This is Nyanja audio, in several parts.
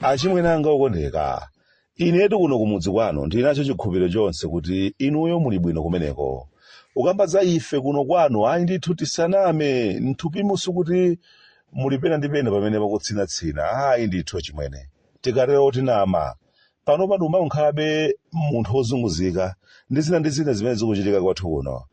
achimwene anga okondeka inetu kuno kumudzi kwanu ndi nacho chikhulupiriro chonse kuti inuyo muli bwino kumeneko ukamba za ife kuno kwanu ayi ndithu tisaname mthupimu sikuti muli pena ndi pena pamene pakutsinatsina ayi ndithu achimwene tikatero tinama panopa ndikumakhalabe munthu wozunguzika ndi zina ndi zina zimene zikuchitika kwathu kuno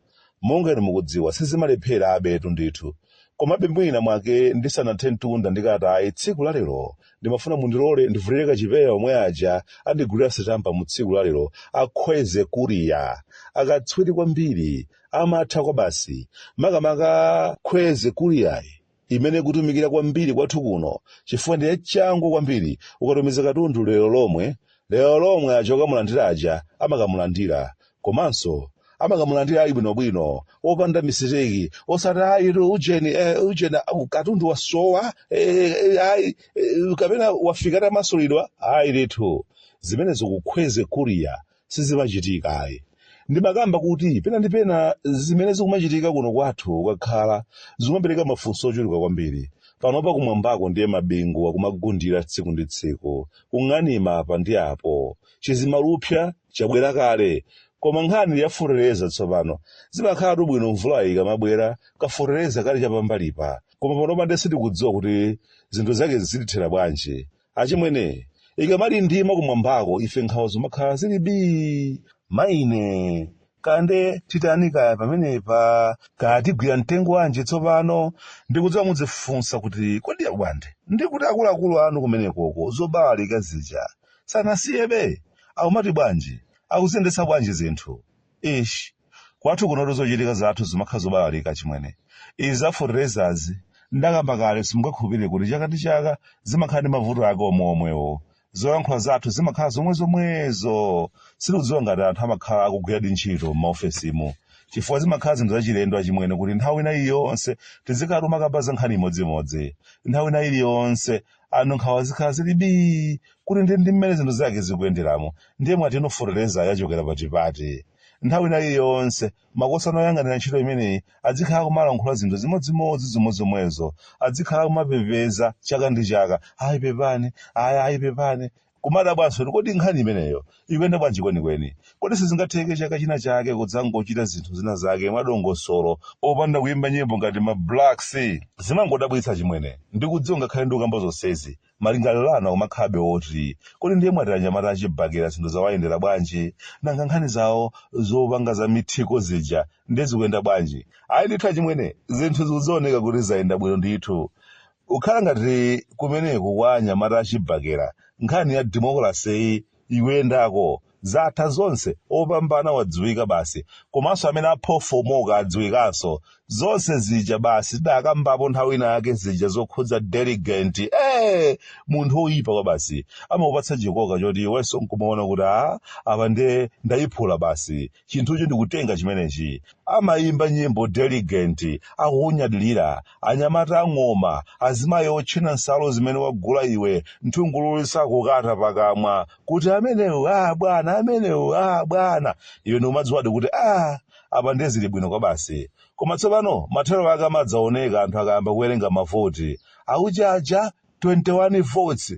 monga inu mukudziwa sizimalepherabetu ndithu komabe mwina mwake ndisanathe mtunda ndikatayi tsiku lalero ndimafuna mundilole ndivulire kachipewa omwe aja andigulira sitampa mu tsiku lalero a Kwezy Courier akatswiri kwambiri amatha kwabasi makamaka Kwezy Courier yi imene ikutumikira kwambiri kwathu kuno chifukwa ndi yachangu kwambiri ukatumiza katundu lero lomwe lero lomwe aja okamulandira aja amakamulandira komanso amakamulandira ali bwinobwino opanda mistake osati ayitu ujeni eh, ujeni ah, katundu wasowa eh, eh, ayi eh, kapena wafika atamasulidwa ayi ndithu zimenezo ku Kwezy Courier sizimachitika ayi ndimakamba kuti pena ndi pena zimene zikumachitika kuno kwathu ukakhala zikumapereka mafunso ochuluka kwambiri panopa kumwambako ndiye mabingu akumagundira tsiku ndi tsiku kung'anima apa ndi apo chizimalupsa chabwera kale koma nkhani ya fertilizer tsopano zimakhalatu bwino mvula ikamabwera ka fertilizer kali chapambalipa koma panopa ndiye sitikudziwa kuti zinthu zake zitithera bwanji achimwene ikamalindima kumwambako ife nkhawa zimakhala zili bii mayine kaya nde titani kaya pamenepa kaya tigwira mtengo wanji tsopano ndikudziwa mudzifunsa kuti kodi a Bwande ndikuti akuluakulu anu kumenekoko zobalalika zija sanasiyebe akumati bwanji akuziyendetsa bwanji zinthu Eesh. Kwathu kunotu zochitika zathu zimakhala zobalalika achimwene. Izi za fertilizer zi ndakamba kale simungakhulupirire kuti chaka ndi chaka zimakhala ndi mavuto ake omweomwewo. Zolankhula zathu zimakhala zomwezomwezo. Sindikudziwa ngati anthu amakhala akugwiradi ntchito m'maofesimu. Chifukwa zimakhala zinthu zachilendo achimwene kuti nthawi ina iliyonse tizikhala tikumakamba za nkhani imodzimodzi. Nthawi ina iliyonse anthu nkhawa zikhala zili bii kuti ndi ndi mmene zinthu zake zikuyenderamo ndiye mwati inu fertilizer yachokera patipati nthawi ina iliyonse makosana oyang'anira ntchito imeneyi adzikhala akumalankhula zinthu zimodzimodzi zomwezomwezo adzikhala akumapepeza chaka ndi chaka ayi pepani ayi ayi pepani Kumadabwanso kuti kodi nkhani imeneyo ikuyenda bwanji kwenikweni. Kodi sizingatheke chaka china chake kudzangochita zinthu zina zake mwadongosolo popanda kuyimba nyimbo ngati ma Blacks? Zimangodabwitsa achimwene. Ndikudziwa ngakhale ndikukamba zonsezi, malingaliro anu akumakhalabe oti, kodi ndiye mwati anyamata a chibakera zinthu zawayendera bwanji? Nanga nkhani zawo zopanga za mithiko zija ndiye zikuyenda bwanji? Ayi ndithu achimwene, zinthu zikuoneka kuti zayenda bwino ndithu. Kukhala ngati kumeneku kwa anyamata achibakera nkhani ya democracy yi ikuyendako, zatha zonse opambana wadziwika basi komanso amene aphofomoka adziwikanso, zonse zija basi tidakambapo nthawi ina yake zija zokhudza delegate ee! munthu oyipa kwabasi amakupatsa chikoka choti iwenso nkumaona kuti aa apa nde ndayiphula basi chinthuchi ndikutenga chimenechi amayimba nyimbo delegate akukunyadilira anyamata ang'oma azimayi otchena nsalu zimene wagula iwe nthungululu sakukata pakamwa kuti amenewu a bwana amenewu a bwana iwe ndikumadziwadi kuti a apa ndiye zili bwino kwabasi koma tsopano mathero ake amadzaoneka anthu akayamba kuwerenga mavoti akuchaja 21 votes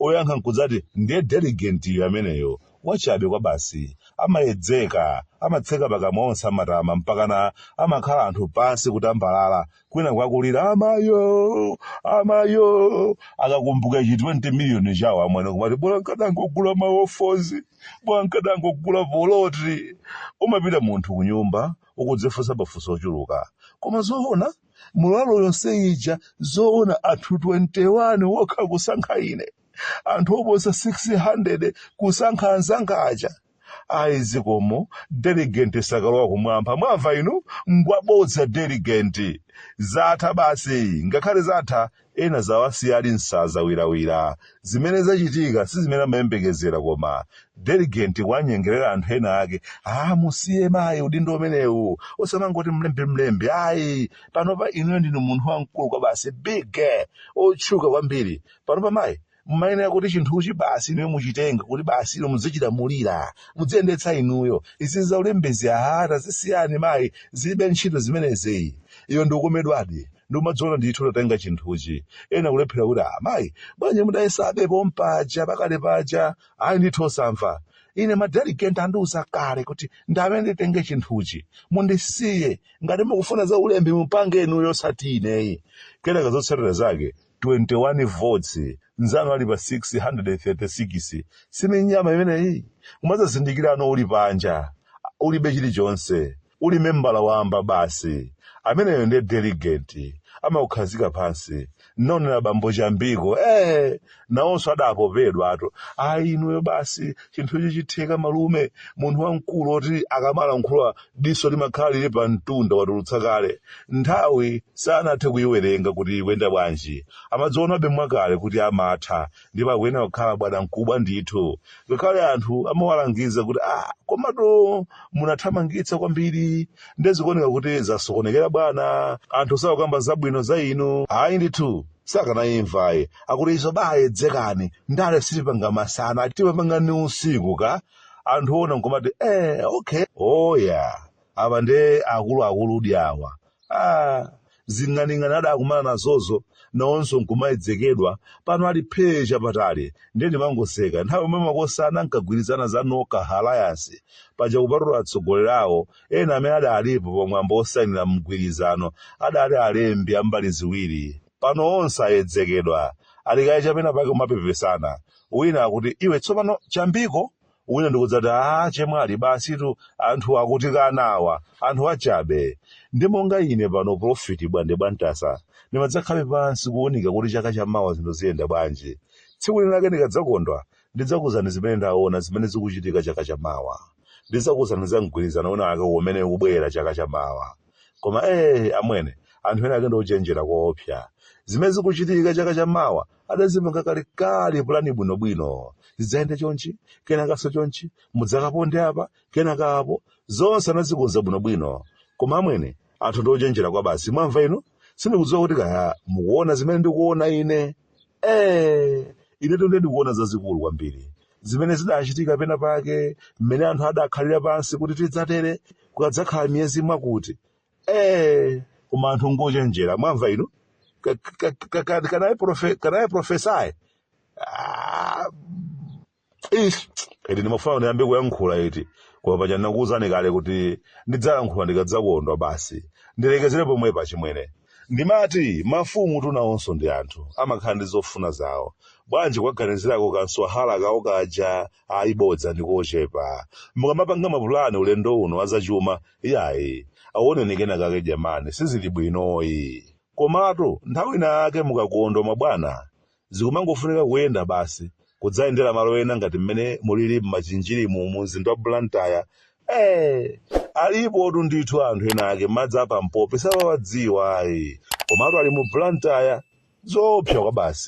oyankha nkudzati ndiye delegate-yo ameneyo, wachabe kwabasi, amayedzeka, amatseka pakamwa onse amatama mpakana amakhala anthu pansi kutambalala kwinaku akulira amayo! amayo! akakumbuka chi 20 miliyoni chawo amwene kumati bola nkadangogula maofozi bola nkadangogula poloti umapita munthu kunyumba ukudzifunsa mafunso ochuluka koma zoona Mulalo yonse ija zoona anthu 21 wokha kusankha ine. Anthu oposa 600 kusankha anzanga aja. Ayi zikomo delegate sakalowa kumwamba mwamva inu ngwabodza delegate. Zatha basi ngakhale zatha ena zawasiya ali nsaza wirawira zimene zachitika sizimene amayembekezera koma delegate kuwanyengerera anthu ena ake ah musiye mayi udindo umenewu osamangoti mlembi mlembi ayi panopa inuyo ndinu munthu wamkulu kwabasi big otchuka kwambiri panopa mayi mumayenera kuti chinthuchi basi inuyo muchitenge kuti basi inu muzichilamulira mudziyendetsa inuyo izi za ulembezi aha tazisiyani mayi zilibe ntchito zimenezi iwo ndikukomedwadi ndikumadziona ndithu utatenga chinthuchi ena kulephera kuti ah mayi bwanji mudayesabe pompaja pakale paja ayi ndithu osamva ine madelegate andiuza kale kuti ndine amene nditenge chinthuchi mundisiye ngati mukufuna za ulembi mupange inuyo osati ineyi kenaka zotsatira zake 21 votes nzanu ali pa 636 sini nyama imeneyi kumadzazindikirano uli panja ulibe chilichonse uli membala wamba basi ameneyo ndiye delegate amakukhazika pansi naonera bambo chambiko eh nawonso adapopedwatu ayi inuyo basi chinthu ichi chitheka malume munthu wamkulu oti akamalankhula diso limakhala lili pa mtunda watulutsa kale nthawi sanathe kuyiwerenga kuti ikuyenda bwanji amadzionabe mwakale kuti amatha ndipo akuyenera kukhala bwanamkubwa ndithu ngakhale anthu amawalangiza kuti ah komatu munathamangitsa kwambiri nde zikuoneka kuti zasokonekera bwana anthu sakukamba zabwino za inu ayi ndithu sakanayimvayi akuti izo bayedzekani ndale sitipanga masana tipangana usiku ka anthu ona nkumati eh, okay oya apa nde akuluakuludi awa ah, zing'aning'ani adakumana nazozo nawonso nkumayedzekedwa pano ali phee chapatali ndiye ndimangoseka nthawi yomwe makosana ankagwirizana za noka alliance paja kupatula atsogoleri awo ena amene adalipo pamwambo wosayinira mgwirizano adali alembi ambali ziwiri pano onse ayedzekedwa ali kaye chapena pake kumapepesana wina akuti iwe tsopano chambiko wina ndikudzati a chemwali basitu anthu akutikana awa anthu achabe ndi monga ine pano profiti bwande bwantasa ndimadzakhala pansi kuunika kuti chaka cha mawa zinthu ziyenda bwanji tsiku lina lake ndikadzakondwa ndidzakuzani zimene ndaona zimene zikuchitika chaka cha mawa ndidzakuzani za mgwirizano wina wake umene ukubwera chaka cha mawa koma ee amwene anthu ena ake ndi ochenjera koopsa zimene zikuchitika chaka cha mawa adazipanga kalekale pulani bwinobwino zidzayenda chonchi kenakanso chonchi mudzakaponde apa kenaka apo zonse anazikonza bwinobwino koma amwene anthu ndi ochenjera kwabasi mwamva inu sindikudziwa kuti kaya mukuona zimene ndikuona ine Eh, inetu nde ndikuona zazikulu kwambiri zimene zidachitika pena pake mmene anthu adakhalira pansi kuti tidzatere kukadzakhala miyezi mwakuti eh, koma anthu ngochenjera mwamva inu Ka- ka- ka- ka- kanaye profe- kanaye profesaye Ah, ish eti ndimafuna ndiyambe kuyankhula eti koma paja ndinakuwuzani kale kuti ndidzayankhula ndikadzakondwa basi ndilekezere pomwepa achimwene ndimati mafumutu nawonso ndi anthu amakhala ndi zofuna zawo bwanji kuwaganizirako kamswahala kawo kaja ayibodza ndi kochepa mukamapanga mapulani ulendo uno azachuma iyayi aonenikoni kena kake jamani sizili bwinoyi komatu nthawi ina yake mukakondwa mabwana Zikumangofunika kuyenda basi, kudzayendera malo ena ngati mmene mulili m'Machinjirimu mu mzinda wa Blantyre. Eee! Alipotu ndithu anthu ena ake madzi a pampopi samawadziwa ayi. Komatu ali mu Blantyre. Zoopsa kwabasi.